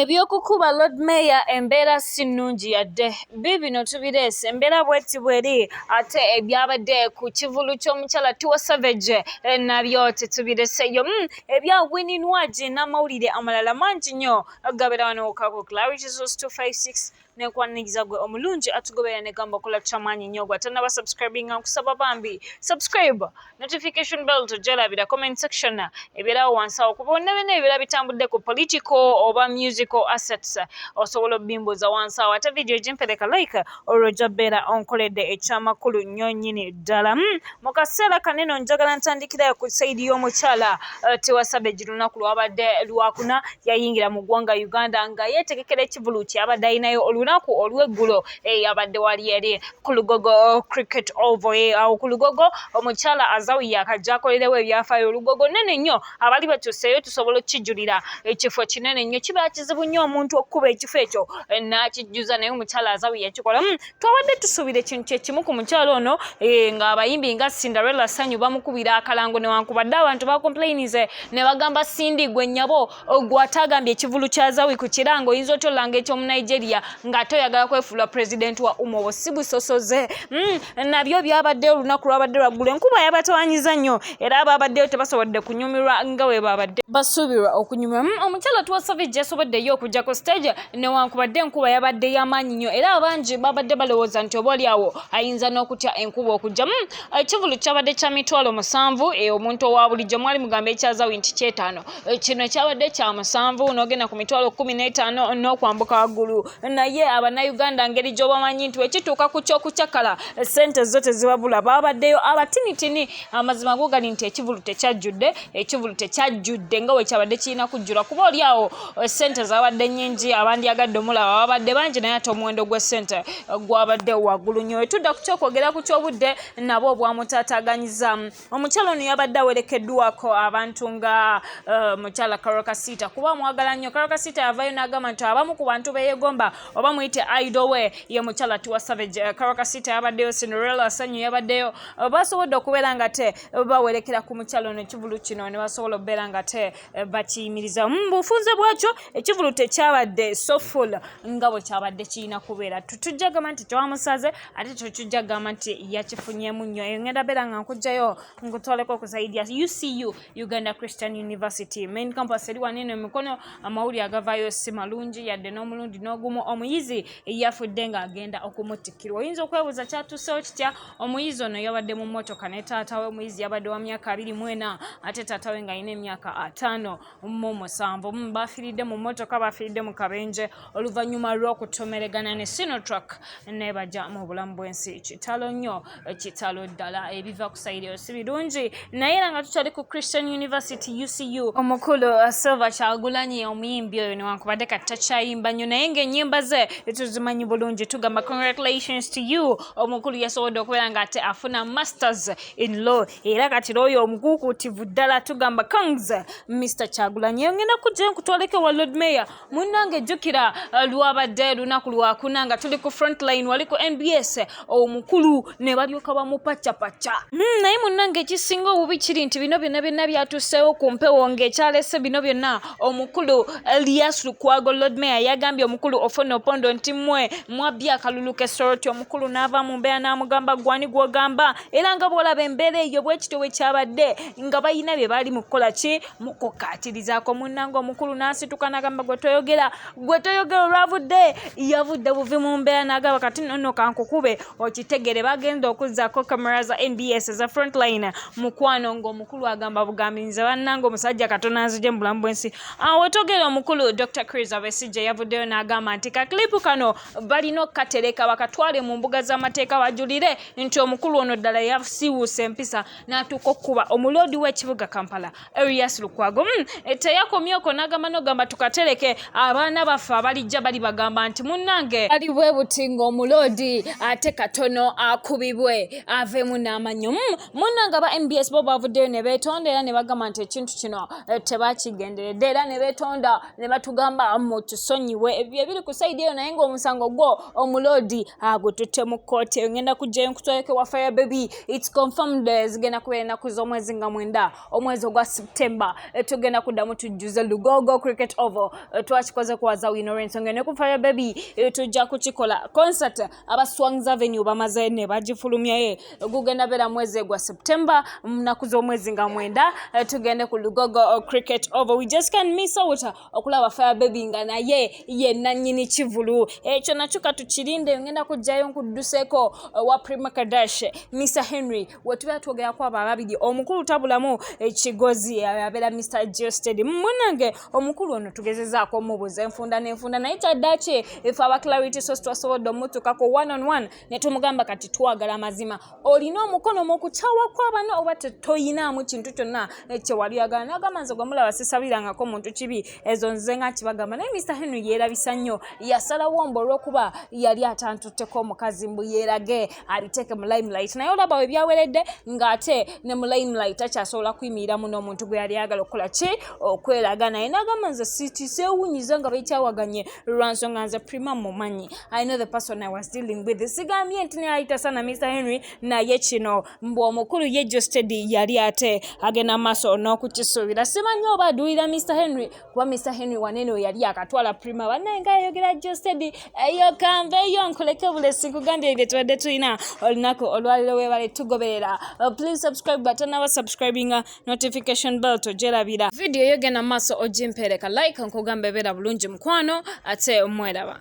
Eby'okukuba Lord Mayor embeera si nnungi yadde. Biibino tubireese, embeera bw'eti bw'eri ate ebyabadde ku kivulu ky'omukyala Tiwa Savage eh, nabyo tetubireseeyo. Hmm, ebya Winnie Nwagi n'amawulire amalala mangi nnyo gabeera wano ku Clarity Source 256. nenkwaniriza gwe omulungi atugoberera negamba okola kyamaanyi nnyo gwe atanaba subscribinga nkusaba bambi subscribe notification bell tojalabira comment section ebyerawo wansi awo kuba onna byonna ebibeera bitambudde ku political oba musical assets osobola obimbuuza wansi awo ate vidiyo gyempereka like olwo ojja beera onkoledde ekyamakulu nnyo nnyini ddala hmm, mu kaseera kano eno njagala ntandikirayo ku saidi y'omukyala eh, tewasabe gi lunaku lwabadde lwakuna yayingira mu ggwanga uganda nga yeetegekera ekivulu kyabadde alinayo olunaku olw'eggulo eyabadde eh, wali eri ku lugogo eh, cricket ovo awo ku lugogo omukyala azawi yakajja akolerewo ebyafaayo olugogo nene nnyo abali batuseeyo tusobola okukijulira ekifo kinene nnyo kiba kizibu nnyo omuntu okukuba ekifo ekyo n'akijjuza naye omukyala azawi yakikolamu hmm, twabadde tusuubira ekintu kyekimu ku mukyalo ono eh, ng'abayimbi nga cinderella sanyu bamukubira akalango newankubadde abantu bakomplainize ne bagamba sindi gwe nyabo gwatagambye ekivulu kya zawi ku kirango oyinza otya olanga ekyomu nigeria ng'ate oyagala kwefuula pulezidenti wa umobo si busosoze hmm, nabyo byabadde olunaku lwabadde lwaggulu enkuba yabatawanyiza nnyo era ababaddeyo tebasobodde kunyumirwa nga we babadde basuubirwa okunyumirwa hmm, omukyalo tuwasavi gyasoboddeyo okujja ku stage newankubadde enkuba yabadde yamaanyi nnyo era abangi babadde balowooza nti oba olyawo ayinza n'okutya enkuba okujjamu eh, ekivulu kyabadde kya mitwalo musanvu eh, omuntu owa bulijjo mwali mugamba ekyazawi nti kyetaano eh, kino kyabadde kya musanvu n'ogenda ku mitwalo kumi n'etaano n'okwambuka waggulu naye abannayuganda ngeri gy'obamanyi nti wekituuka ku ky'okucakala ssente zo tezibabula babaddeyo abatinitini amazima gogali nti ekivulu tekyajjudde ekivulu tekyajjudde nga wekyabadde kirina kujjula kuba olyawo sente zabadde nyingi abandyagadde omulaba babadde bangi naye ate omuwendo gw'essente eh, gwabadde waggulu nyo etudda ku kyokwogera ku kyobudde nabo obwamutataganyiza omukyala ono yabadde awerekeddwako abantu nga eh, mukyala karokasiita kuba mwagala nnyo karokasiita yavayo n'agamba nti abamu ku bantu beyegomba oba muyite idowe ye mukyala tiwa savage eh, karokasiita yabaddeyo cinderella sanyu yabaddeyo basobodde okubeera nga te bawerekera ku mukyala ono ekivulu kino ne basobola okubeera nga te eh, bakiyimiriza mu mm, bufunze bwakyo ekivulu tekyabadde soful nga bwe kyabadde kirina kubeera tujja gamba nti tewamusaze ate kyokijja gamba nti yakifunyemu nnyo eyo ngenda beera nga nkugjayo nkutwaleko okusaidia ucu uganda christian university main campus eri wanene emikono amawulire agavayo si malungi yadde n'omulundi n'ogumu omuyizi eyafudde ng'agenda okumutikirwa oyinza okwebuuza kyatusewo kitya Omuyizi ono yabadde mu mmotoka ne taata we. Omuyizi yabadde wa myaka abiri mu ena ate taata we ng'alina emyaka ataano mu musanvu. Mm, baafiiridde mu mmotoka, baafiiridde mu kabenje oluvannyuma lw'okutomeregana ne Sinotruck nebaja mu bulamu bw'ensi. Kitalo nnyo, kitalo ddala. Ebiva ku sayiri eyo si birungi. Naye era nga tukyali ku Christian University UCU, omukulu uh, Silver Kyagulanyi omuyimbi oyo newankubadde kati takyayimba nnyo naye ng'ennyimba ze tuzimanyi bulungi. Tugamba congratulations to you. omukulu yasobodde okubeera nga ate afuna masters in law era kati looyo omukuukuutivu ddala tugamba kongs mr kyagulanyi engenda kujja nkutwaleko ewa lord mayor munnange jjukira uh, lwabadde lunaku lwakuna nga tuli ku frontline wali ku nbs omukulu ne balyoka bamupacapacca hmm, naye munnange ekisinga obubi kiri nti bino byonna byonna byatuuseewo ku mpewo ng'ekyalese bino byonna Omukulu Elias Lukwago Lord Mayor yagambye omukulu Ofwono Opondo nti mwe mwabbye akalulu ke Soroti omukulu n'ava mu mbeera n'amugamba gwani gw'ogamba era nga bw'olaba embeera eyo bwekityo bwe kyabadde nga balina bye baali mu kukola ki mu kukkaatirizaako munnange omukulu n'asituka n'agamba gwe toyogera gwe toyogera olwavudde yavudde buvi mu mbeera nagaba kati nono kankukube okitegere bagenda okuzzako kamera za nbs eza frontline mukwano ngaomukulu agamba bugambi nze bannanga omusajja katona nzije mu bulamu bwensi awo togera omukulu dr cris abesijja yavuddeyo n'agamba nti kaklipu kano balina okukatereka bakatwale mu mbuga z'amateeka bajulire nti omukulu ono ddala yasiwuusa empisa n'atuuka okukuba omuloodi w'ekibuga kampala Erias Lukwago mm, eh, teyakomyeko n'agamba n'ogamba tukatereke abaana baffe abalijja bali bagamba nti munnange ali bwe buti ng'omuloodi ate katono akubibwe aveemu n'amanyo mm, munnange aba mbs bo bavuddeyo ne beetonda era ne bagamba nti ekintu kino eh, tebakigenderedde era ne beetonda ne batugamba mutusonyiwe ebyo ebiri ku saidi eyo naye ng'omusango gwo omuloodi agututte mu kkooti eyo ngenda kujjayo nkutwaleko wa fire baby It's confirmed eh, zigenda kubeera ennaku z'omwezi nga mwenda omwezi ogwa September eh, tugenda kuddamu tujjuze Lugogo Cricket Oval eh, twakikoze kwaza wino olw'ensonga ne ku Fire Baby tujja kukikola concert aba Swangz Avenue bamaze ne bagifulumyaye gugenda beera mwezi gwa September mu nnaku z'omwezi nga mwenda tugende ku Lugogo Cricket Oval we just can miss out okulaba fire baby nga naye ye nannyini kivulu ekyo nakyo katukirinde ngenda kujjayo nkudduseko eh, wa prima kadash mr henry wetubeera twogerako abo ababiri omukulu tabulamu ekigozi eh, eh, abeera mr gested munange omukulu ono tugezezaako omubuuza enfunda nenfunda naye kyaddaki efe aba clarity sos twasobodde omutukako one on one ne tumugamba kati twagala amazima olina omukono mu kukyawa kw'abana oba toyinaamu kintu kyonna kye wali oyagala n'agamba nze gwe mulaba sisabirangako muntu kibi ezo nze nga nkibagamba naye mr henry yeerabisa nnyo yasalawo mbu olw'okuba yali atantutteko omukazi mbu yeerage abiteeke mu limelight naye olaba we byaweredde ng'ate ne mu limelight akyasobola kuyimiriramu n'omuntu gwe yali ayagala okukola ki okweraga naye n'agamba nze sitiseewunyiza nga bekyawaganye lwa nsonga nze prima mumanyi I know the person I was dealing with. Sigambye nti nayita sana Mr. Henry naye kino mbu omukulu ye Jostedi yali ate agenda maaso n'okukisuubira. Simanyi oba aduulira Mr. Henry kuba Mr. Henry wanene oyo yali akatwala prima banaye nga ayogera Jostedi eyo kanve eyo nkuleke bulesi nkugambye ebyo tubadde tulina olunaku olwaliro webale tugoberera. Uh, please subscribe button aba subscribing uh, notification bell tojerabira. Video yogenda maaso ogimpereka like nkugamba ebeera bulungi mukwano ate mweraba.